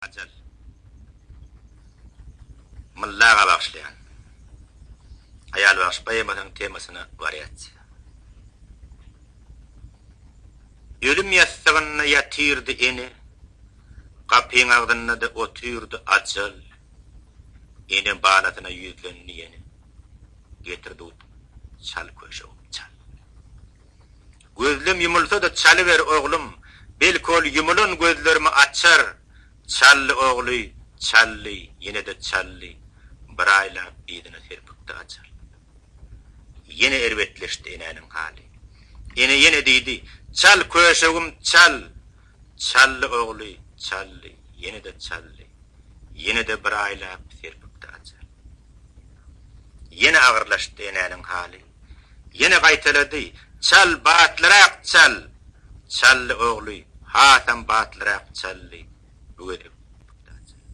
Ajal. Myllaga bagyşlaýan. Aýal bagşy poemasynyň temasyna wariasiýa. Ölüm ýassygynda ýatyrdy ene, Gapyň agzynda-da otyrdy ajal. Ene balasyna ýüzlendi ýene, Getir dut, çal köşegim, çal. Gözlem ýumulsa-da çalyber, oglum, belki ol ýumulan gözlerimi açar. Çaldy ogly, çaldy, ýene-de çaldy. Bir aýlap yzyna serpikdi açar. Ýene erbetleşdi enäniň haly. Ene ýene diýdi, Çal, köşegim, çal! Çaldy ogly, çaldy, ýene-de çaldy. Ýene-de bir aýlap serpikdi açar. Ýene agyrlaşdy enäniň haly. Ýene gaýtalady, Çal, batlyrak çal! Çaldy ogly, hasam batlyrak çaldy. Bu gezek pugta çaldy.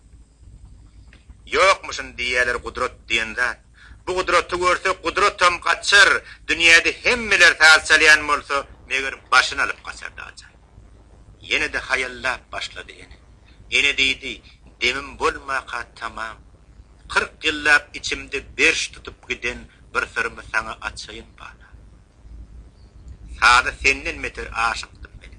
Ýokmuşyn diýýäler gudrat diýen zat. Bu gudraty görse, gudratam gaçar. Dünýäde hemmeler saz çalýan bolsa, meger, başyny alyp gaçardy ajaýyp. Ýene-de haýallap başlady ene. Ene diýdi, Demim bolmaka tamam. Kyrk ýyllap içimde berş tutup giden Bir syrymy saňa açaýyn bana. Saza senden beter aşykdym men.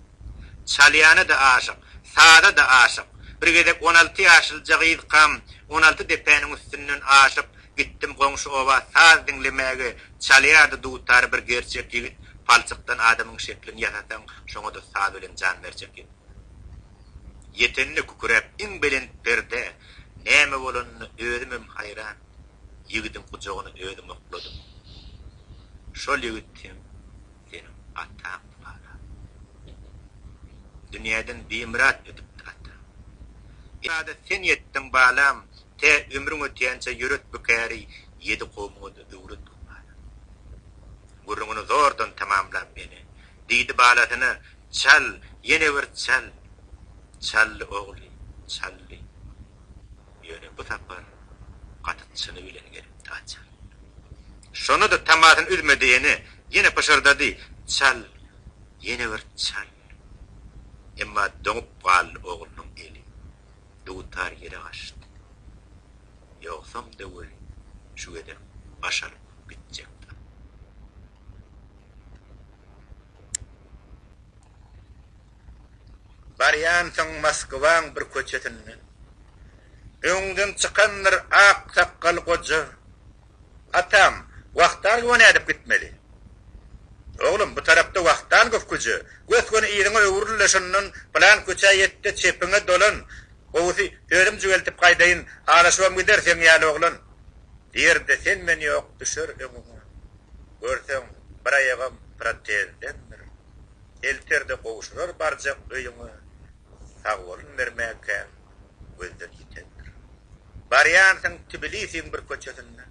Çalýana-da aşyk, saza-da aşyk. Bir gezek on alty ýaşlyja gyzkam, on alty depäniň üstünden aşyp, gitdim goňşy oba saz diňlemäge, çalýardy dutar bir gerçek ýigit, palçykdan adamyň şeklini ýasasaň, şoňa-da saz bilen jan berjek ýigit. Ýetende küküräp iň belent perdä, näme bolanyna özümem haýran. ýigidiň gujagyny özüm okladym. Şol ýigit hem seniň ataňdy bala. Dünýäden bimyrat ötüpdi ataň. Ýa-da sen ýetdiň balam, tä ömrüň ötýänçä ýöret bu käri, ýedi kowmuňa-da öwret bu balam. Gürrüňini zordan tamamlap ene, diýdi balasyna, Çal, ýene bir çal! Çaldy ogly, çaldy. Ýöne bu sapar gaty çyny bilen gelipdi Açar. Şonda-da tamasyny üzmedihine ýene pyşyrdady, Çal, ýene bir çal! Emma doňup galdy oglunyň eli. Dutar ýere gaçdy. Ýogsam-da weli şu gezek baş alyp gitjekdi. Barýansyň Moskwaň bir köçesinde. Öňüňden çykandyr ak sakgal goja, Atam, Wahtangowa nädip gitmeli? Oglum, bu tarapda Wahtangow köçe. Gös-göni yzyňa öwrül-de şondan pylan köçä ýet-de, çepiňe dolan. Gowusy, özüm jüweltip gaýdaýyn, azaşybam gider seň ýaly oglan. Diýer-de, sen-men ýok, düşer öňüňe. Görseň, bir aýagam protezdendir. Elterde gowşurar barjak öýüňe Sagbolun bermäkäň gözden ýitendir. Barýansyň Tbilisiň bir köçesinde.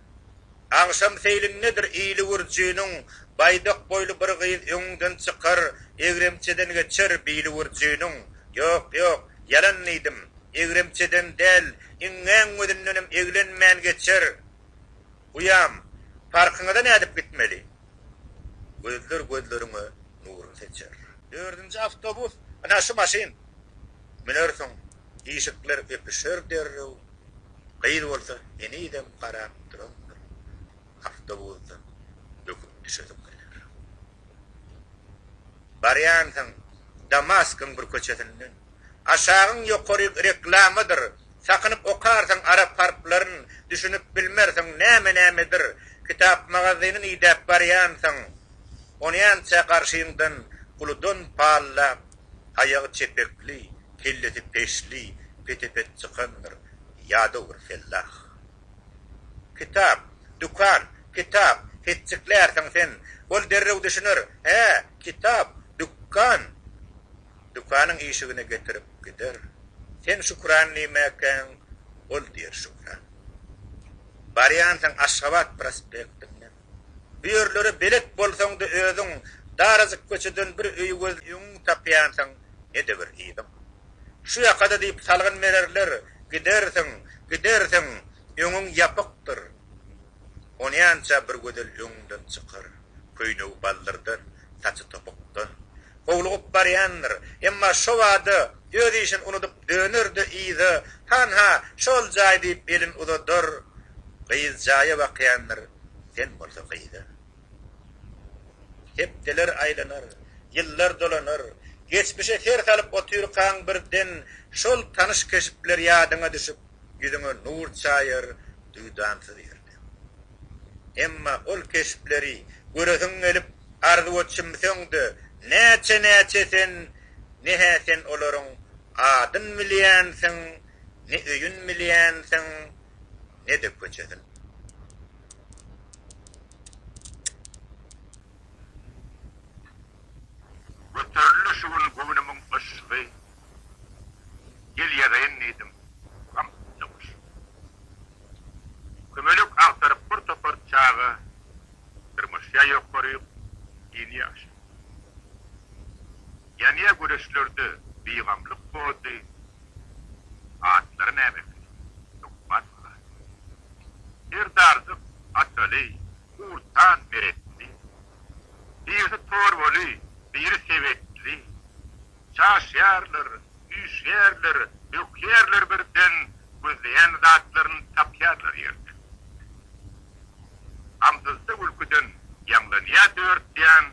Agşam seýlindedir ili gürjüniň Baýdak boýly bir gyz öňüňden çykar Egremçeden geçer bili gürjüniň Ýok, ýok, ýalan diýdim, egremçeden däl Iňňäň gözündenem eglenmän geçer Uýam, parkyňyza nädip gitmeli? Gözler gözleriňe nurun seçer. Dördünji awtobus, ana şu maşyn. Münersiň, işikler öpüşer derrew. Gyz bolsa henizem garap durandyr. Awtobusdan böküp düşesiň geler. Barýansyň Damaskyň bir köçesinden. Aşagyň ýokary reklamadyr, Sakynyp okarsyň arap harplaryn, Düşünip bilmersiň näme-nämedir. Kitap magazynyny idäp barýansyň, Onýança garşyňdan uludan pallap, Aýagy çepekli, kellesi peşli, Pete-pet çykandyr ýadaw bir fellah. Kitap, dükan, kitap, hetjiklärsiň sen. Ol derrew düşüner, Hä, kitap, dükkan. Dükanyň işigine getirip gider. Sen Şükran diýmäkäň, ol diýer Şükran. Barýansyň Aşgabat prospektinden. Bu ýerlere belet bolsaň-da özüň, darajyk köçeden bir öýi gözläp öňüňi tapýansyň, ne-de bir yzyň. Şu ýaka-da diýip salgyn bererler, gidersiň, gidersiň, öňüň ýapykdyr. Onýança bir gözel öňüňden çykar, köýnegi baldyrdan, saçy topukdan howlugyp barýandyr, emma şo bada öz işini unudyp döner-de yza, Hanha, şol jaý diýip elini uzadar. Gyz jaýa bakýandyr, sen bolsa gyza. Hepdeler aýlanar, ýyllar dolanar. Geçmişe ser salyp otyrkaň birden şol tanyş keşpler ýadyňa düşüp, ýüzüňe nur çaýar, duýdansyz ýer. Emma ol keşpleri göresiň gelip arzuwa çümseň-de, näçe-näçe sen, ne-hä sen olaryň adyn bilýänsiň, ne öýün bilýänsiň, ne-de köçesin. Göterildi şu gün göwnümiň yşgy, Gel ýazaýyn diýdim, gam üstüne guşgy. Kömelek agtaryp bir topar çaga dyrmaşýar ýokaryk ýeni ýaşa. Ýanýa güreşlerde bigamlyk body atlary nämekin hökman malat. Serdarjyk Ataly Gurtan Meretli birisi Torbaly biri Sebetli. Çaşýarlar, üýşýärler, bökýärler birden, gözleýän zatlaryny tapýarlar ýerden. Gamsyzda gülküden ýaňlanýar dört ýan,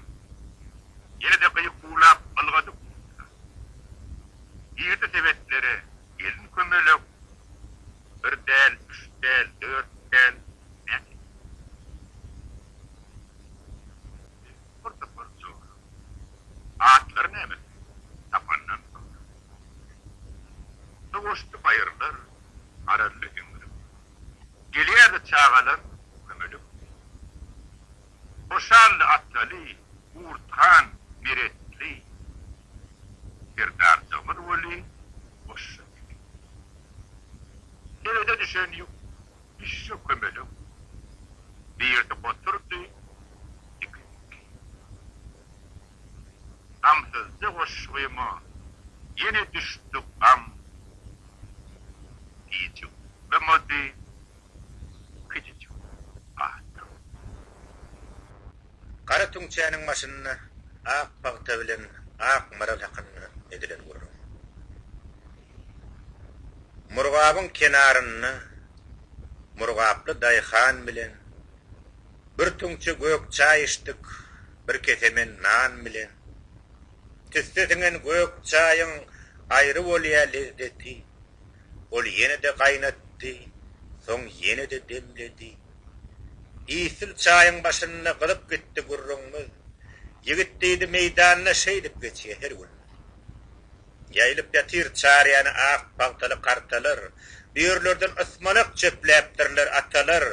ýene-de gykuwlap ylgady guşlar. Girdi sebetlere gelin kömelek, bir däl, üç däl, dört däl, näçe däl. Topar-topar joram. Atlary näme? Tapandan soňra. Ýoksa goşdy baýyrlar Arazly eňrip. Gelýärdi çagalar kömelek bilen. Hoşally atlaly Gurthan Meretli Serdarjygymyz weli goşja çekipdi. Sebede düşen ýük Düşje kömelek birdi oturdy, ikinjisi Gamsyzja goşgyma ýene düşdi gam Diýjek bolmady, gidijekler gaty uzak. Gara tüňçäniň başynda ak pagta bilen ak maral hakynda edilen gürrüň. Murgabyň kenarynda murgaply daýhan bilen bir tüňçe gök çaý içdik, bir kesemen nan bilen. Tüsse siňen gök çaýyň aýry bolýa lezzeti. Ol ýene-de gaýnatdy, soň ýene-de demledi. Isl çaýyň başynda gyzyp gitdi gürrüňmiz. Ýigit diýdi, meýdanda şeýdip geçýä her günümiz. Ýaýylyp ýatyr çaryýany ak pagtaly kartalar, Bu ýerlerden ysmanak çöpläpdirler atalar.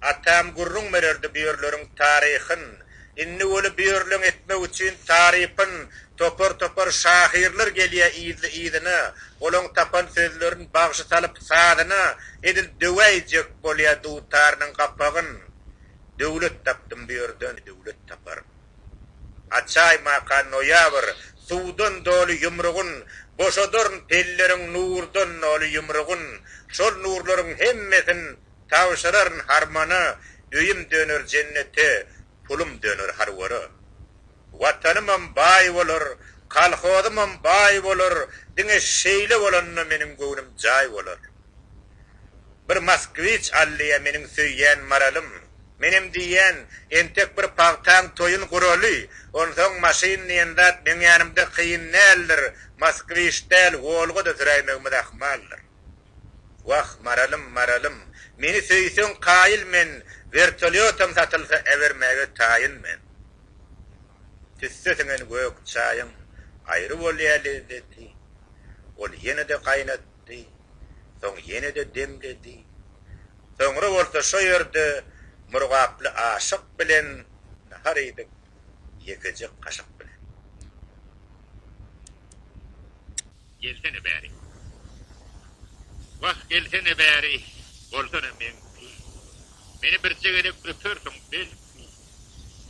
Atam gürrüň bererdi bu ýerleriň taryhyn, Indi weli bu ýerleň etmek üçin tarypyn. Topar-topar şahyrlar gelýä yzly-yzyna, Olaň tapan sözlerin bagşy salyp sazyna, Edil döwäýjek bolýa dutarynyň gapagyn. Döwlet tapdym bu ýerden, döwlet taparyn. Açaý maka noýabr Suwdan doly ýumrugyn, Boşadaryn pelleriň nurdan noly ýumrugyn, Şol nurlaryň hemmesin tabşyraryn harmana, Öýüm döner jennete, pulum döner harwara. Watanymam baý bolar, kolhozymam baý bolar, Diňe şeýle bolanda meniň göwnüm jaý bolar. Bir moskwiç allyja meniň söýýän maralym. Menem diýýän, entek bir pagtaň toýun guraly, onsoň maşyn diýen zat meň ýanymda kyn däldir, moskwiç däl, Wolga-da süräýmegimiz ahmaldyr. Wah, maralym, maralym, meni söýseň kaýyl men, wertolýotam satylsa äbermäge taýyn men. Tüsse siňen gök çaýyň aýry bolýa lezzeti, ol ýene-de gaýnat, ýatdy. Soň ýene-de demledi. Soňra bolsa şo ýerde murgaply aşyk bilen nahar iýdik, ýekeje kaşyk bilen. Gelsene bäri. Wah, gelsene bäri, bolsana meňki. Meni birje gezek öpersiň, belki.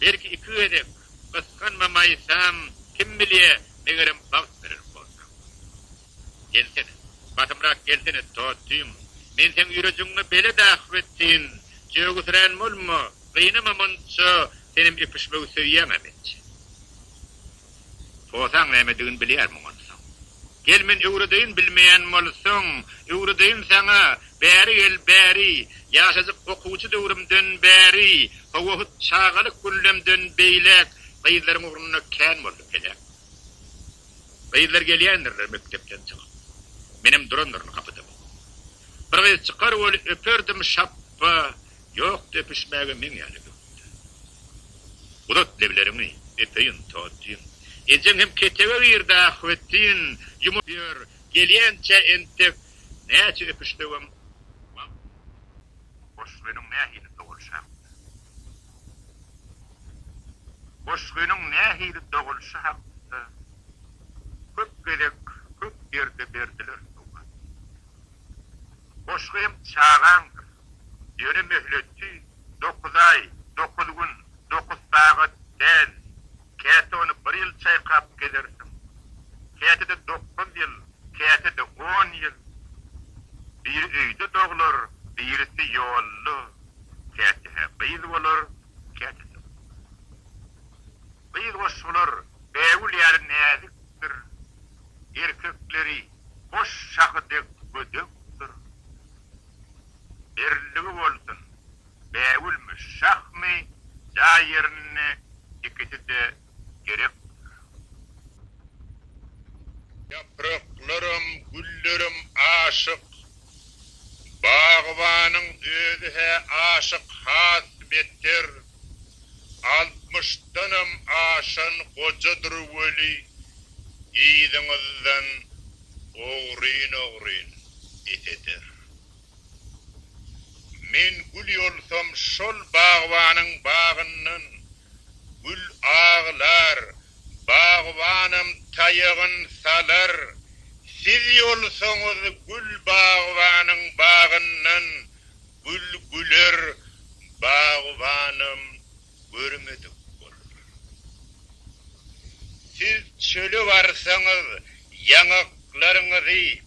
Belki iki gezek, gysganmamaýsam, kim bilýä, megerem bagt berer bolsaň. Gelsene. Basymrak gelsene, Totym. Men seň ýürejigiňe belet ahw etsin. Jögüsirän bolma, gynama munça, senem öpüşmegi söýýäň-ä mençe. Posaň nämedigini bilýärmiň onsoň? Gel men öwredeýin bilmeýän bolsaň, öwredeýin saňa, bäri gel, bäri. Ýaşajyk okuwçy döwrümden bäri, howohut çagalyk günlemden beýläk, gyzlaryň ugrunda kän boldy peläk. Gyzlar gelýändirler mekdepden çykyp. Menem durandyryn gapyda bu. Bir gyz çykar weli öperdim şapba, ýokdy öpüşmäge meň ýaly göwünde. Uzat lebleriňi, öpeýin, totýyn. Ejeň hem ketege girdi ahbetin, ýumrup ýör, gelýänçä entek näçe öpüşsegem wagt. Hoş, özüň nähili dogulyşaň? Goşgynyň nähili dogulyşy hakynda köp gezek köp ýerde berdiler sowal. Goşgy hem çagaňdyr. Ýöne möhleti dokuz aý, dokuz gün, dokuz sagat däl. Käte ony bir ýyl çaýkap gezersiň, käte-de dokuz ýyl, käte-de on ýyl. Biri öýde doglar, birisi ýolda, käte-hä gyz bolar, käte-de gyz. Gyz goşgular bägül ýaly näzikdir, erkekleri goş şahy dek gödekdir. Birligi bolsun! bägülmi, şahmy, jaý ýerinde ikisi-de gerek bolýar. Ýapraklaram, güllerem aşyk. Bagbanyň özi-hä aşyk has beter. Altmyşdanam aşan gojadyr weli, yzyňyzdan ogryn-ogryn ýeteder. Men gül ýolsam şol bagbanyň bagyndan, Gül aglar, bagbanam taýagyn salar, Siz ýolsaňyz gül bagbanyň bagyndan, Gül güler, bagbanam görmedik boldy. Siz çöle barsaňyz, ýaňaklaryňyzy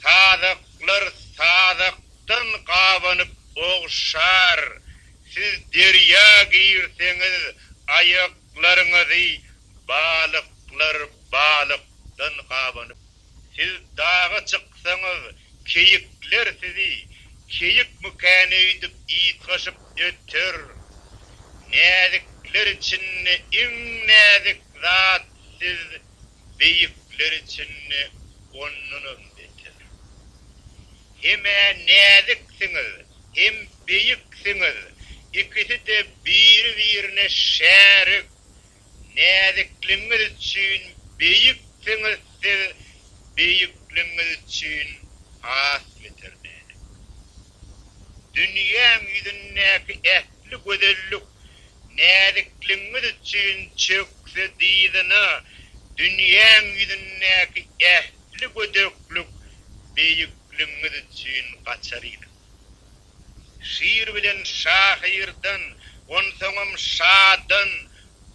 sazaklar sazakdan gabanyp ogşar, siz derýa girseňiz, aýaklaryňyzy balyklar balykdan gabanyp Siz daga çyksaňyz, keýikler sizi keýik mykän öýdüp ýytgaşyp öter. Näzikler içinde iň näzik zat siz, beýikler içinde ondanam beter. Hem-ä näziksiňiz, hem beýiksiňiz, ikisi-de biri-birine şärik. Näzikligiňiz üçin beýiksiňiz siz beýikligiňiz üçin has beter näzik. Dünýäň ýüzündäki ähli gözellik näzikligiňiz üçin çökse dyzyna dünýäň ýüzündäki ähli gödeklik beýikligiňiz üçin gaçar yzyna. Şir bilen şahyrdan, onsoňam şadan,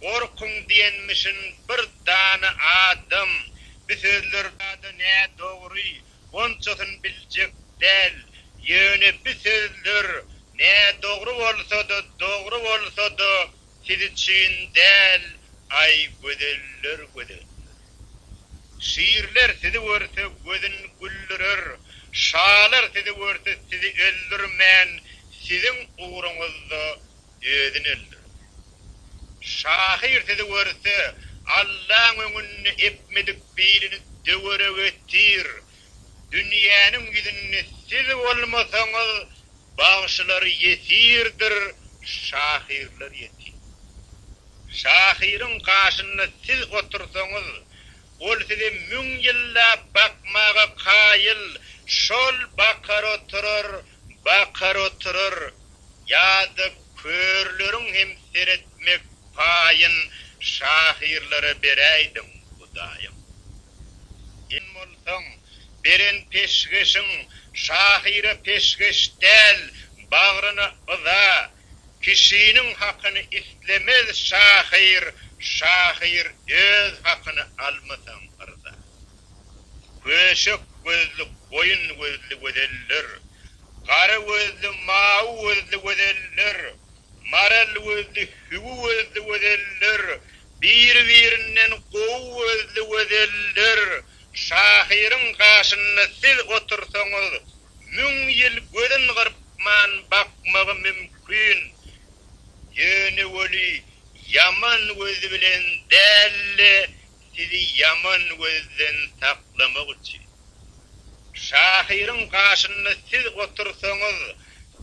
Gorkuň diýenmişin bir dana adam. Bi sözler zada nädogry, onçasyn biljek däl. Ýöne bi sözler nädogry bolsa-da, dogry bolsa-da, siz üçin däl, aý, gözeller, gözeller. Şirler sizi görse gözün güldürer, şalar sizi görse sizi öldürmän siziň ugruňyzda özüni öldürdi. Şahyr sizi görse Allaň öňünde epmedik bilini döwerege itir, Dünýäniň ýüzünde siz bolmasaňyz, bagşylar ýesirdir, şahyrlar ýetim. Şahyryň gaşynda siz otursaňyz, ol size müň ýyllap bakmaga kaýyl, şol bakar oturar, bakar oturar. Ýa-da körleriň hem seretmek paýyn şahyrlara beräýdiň, Hudaýym. Sen bolsaň, beren peşgeşiň şahyra peşgeş däl, bagryna yza. Kişiniň hakyny islemez şahyr, şahyr öz hakyny almasaň yrza. Köşek gözli goýun gözli gözeller, gara gözli mawy gözli gözeller, maral gözli hüwi gözli gözeller, Bir-birinden gowy gözli gözeller, şahyryň gaşynda siz otursaňyz, müň ýyl gözün gyrpman bakmagy mümkin. Ýöne weli, ýaman göz bilen däl-de, sizi ýaman gözden saklamak üçin. Şahyryň gaşynda siz otursaňyz,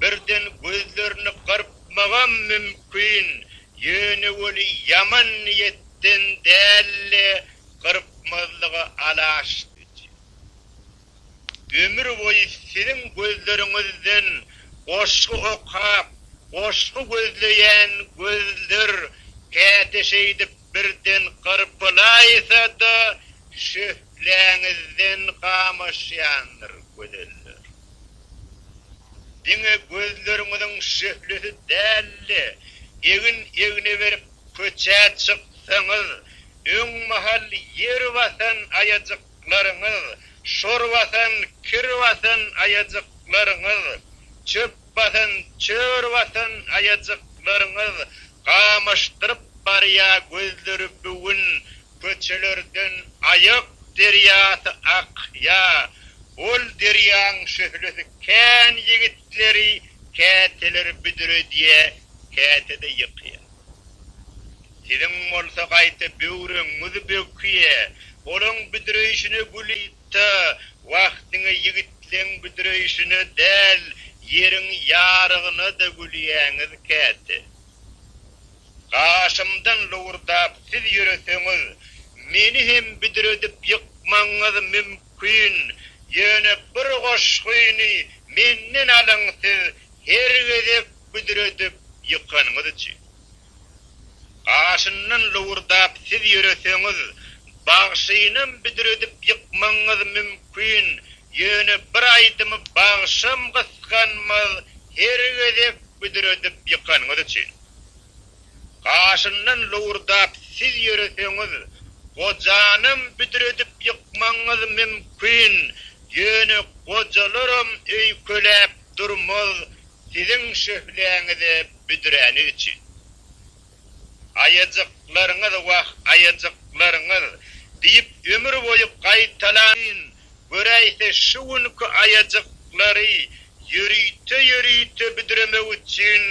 birden gözlerini gyrpmagam mümkin, ýöne weli ýaman niýetden däldi, gyrpmazlyga alaşdyjy. Ömür boýy siziň gözleriňizden goşgy okap, goşgy gözleýän gözler käte şeýdip birden gyrpylaýsa-da, şöhläňizden gamaşýandyr, gözeller. Diňe gözleriňiziň şöhlesi däl-de, egin-egne berip köçä çyksaňyz, öň mahal ýer basan aýajyklaryňyz, şor basan, kir basan aýajyklaryňyz, çöp basan, çör basan aýajyklaryňyz Gamyşdyryp barýa gözleri bigün köçelerden Aýak derýasy akýa Ol derýaň şöhlesi kän ýigitleri Käteler büdredýä käte-de ýykýa Siziň bolsa gaýta böwregiňiz bökýä Olaň büdreýşine güli Ýörite wagtyňy ýigitleň büdreýşine däl, ýeriň ýarygyna-da gülýäňiz käte. Gaşymdan lowurdap siz ýöreseňiz, meni hem büdredip ýykmagyňyz mümkin, ýöne bir goşgyny menden alyň siz her gezek büdredip ýykanyňyz üçin. Gaşyndan lowurdap siz ýöreseňiz, bagşynam büdredip ýykmagyňyz mümkin, ýöne bir aýdymy bagşam gysganmaz her gezek büdredip ýykanyňyz üçin. Gaşyndan lowurdap siz ýöreseňiz, gojanam büdredip ýykmagyňyz mümkin, ýöne gojalaram öýkeläp durmaz siziň şöhläňize büdräni üçin. Aýajyklaryňyz, wah, aýajyklaryňyz! diýip, ömür boýy gaýtalaýyn, göräýse, şu günki aýajyklary ýörite-ýörite büdremek üçin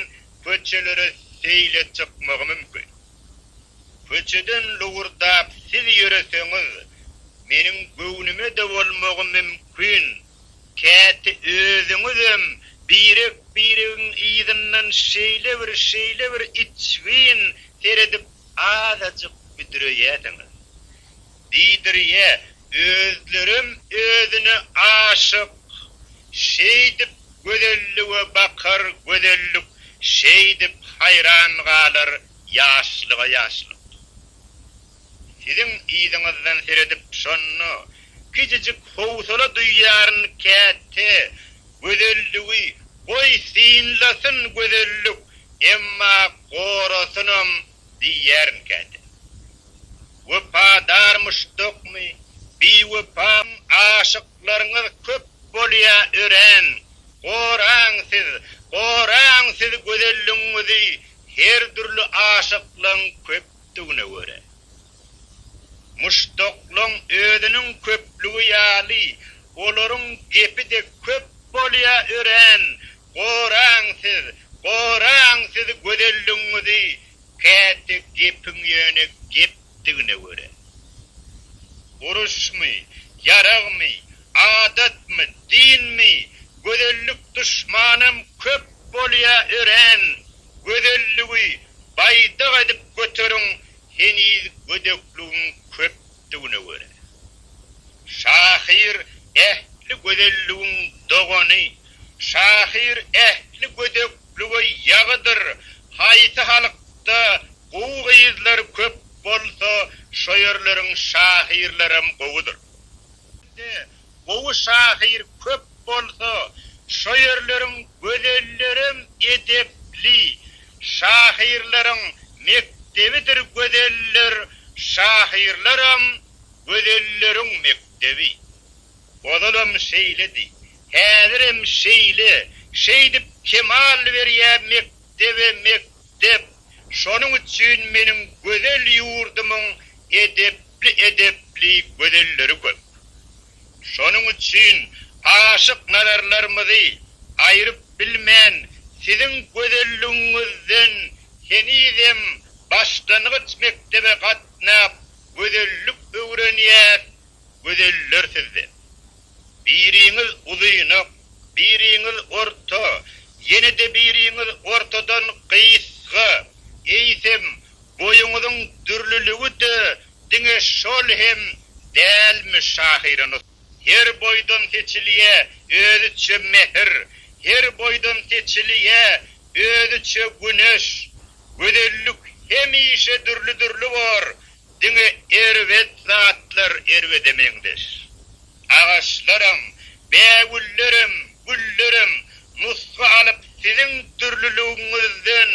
köçelere seýle çykmagy mümkin. Köçeden lowurdap siz ýöreseňiz, meniň göwnüme-de bolmagy mümkin. Käte özüňizem birek-biregiň yzyndan şeýle bir, şeýle bir içgin seredip azajyk büdreýärsiňiz. Diýdirýä, özlerem özüne aşyk. Şeýdip gözellige bakar gözellik, şeýdip haýran galar ýaşlyga ýaşlyk. Siziň yzyňyzdan seredip şonda kiçijik howsala duýýaryn käte gözelligi goý synlasyn gözellik emma gorasynam diýýärin käte. Wepadar muşdakmy biwepa aşyklaryňyz köp bolýa örän goraň siz goraň siz gözelligiňizi her dürli aşyklygyň köp etdügine görä, muşdaklaň özüniň köplügi ýaly, olaryň gepi-de köp bolýa örän Goraň siz, goraň siz gözelligiňizi käte gepiň ýöne gepdigine görä, uruşmy, ýaragmy, adatmy, dinmi, gözellik duşmanam köp bolýa örän Gözelligi baýdak edip göteriň heniz gödekligiň köpdügine görä. Şahyr ähli gözelligiň dogany, şahyr ähli gödeklige ýagydyr, haýsy halkda gowy gyzlar köp bolsa şo ýerleriň şahyrlaram gowudyr. Ýerde gowy şahyr köp bolsa, şo ýerleriň gözellerem edepli. Şahyrlaryň mekdebidir gözeller, şahyrlaram gözelleriň mekdebi. Ozalam şeýledi, häzirem şeýle, şeýdip kemal berýä mekdep. mekdebe mekdep, şonuň üçin meniň gözel ýurdumyň edepli edepli gözelleri köp. Şonuň üçin aşyk nazarlarymyzy aýryp bilmän siziň gözelligiňizden henizem başlangyç mekdebe gatnap gözellik öwrenýäs gözeller sizde. Biriňiz uzynak, biriňiz orta, ýene-de biriňiz ortadan gysga, eýsem, boýuňyzyň dürlüligi-de diňe şol hem dälmi şahyranyz? Her boýdan seçilýä özüçe mähir, her boýdan seçilýä özüçe güneş. Gözellik hemişe dürli-dürli bor, Diňe erbet zatlar erbede meňzeş. Agaçlaram, bägüllerem, güllerem nusga alyp siziň dürlüligiňizden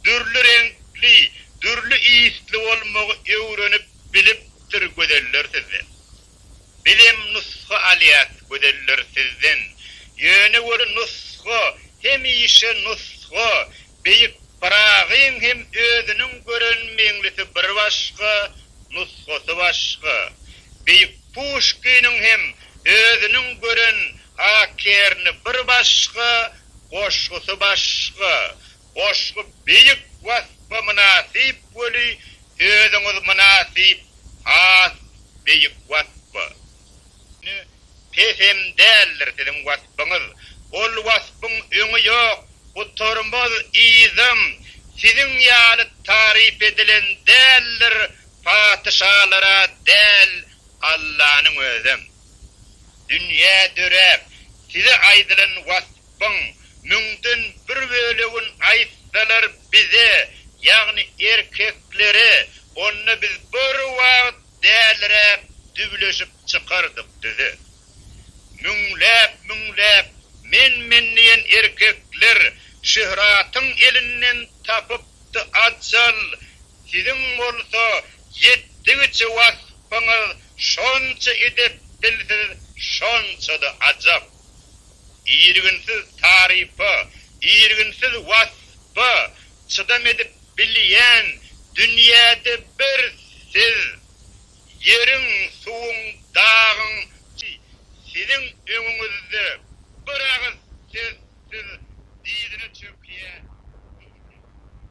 dürli reňkli, dürli ysly bolmagy öwrenip bilipdir gözeller sizden. Bizem nusga alýas gözeller sizden Ýöne bir nusga hemişe nusga Beýik Pyragyň hem özüniň gören Meňlisi bir başga nusgasy başga Beýik Puşkiniň hem özüniň gören Akerni bir başga goşgusy başga Goşgy beýik waspa mynasyp weli sözüňiz mynasyp has beýik waspa. Ýöne pes hem däldir siziň waspyňyz. Ol waspyň öňi ýok gutarmaz yzam siziň ýaly taryp edilen däldir patyşalara däl Allanyň özem. Dünýä döräp size aýdylan wasp. Rabbyň müňden bir bölegin aýtsalar bize, ýagny erkeklere, onda biz bir wagt dälräk düwleşip çykardyk düze. Müňläp-müňläp men-men diýen erkekler Şöhratyň elinden tapypdy ajal, siziň bolsa ýetdigiçe waspyňyz şonça edepdilsiz, şonça-da ajap. Irginsiz tarypa, irginsiz waspa çydam edip bilýän dünýäde bir siz. Ýeriň, suwuň, dagyň, siziň öňüňizde bir agyz sözsüz dyzyna çökýän.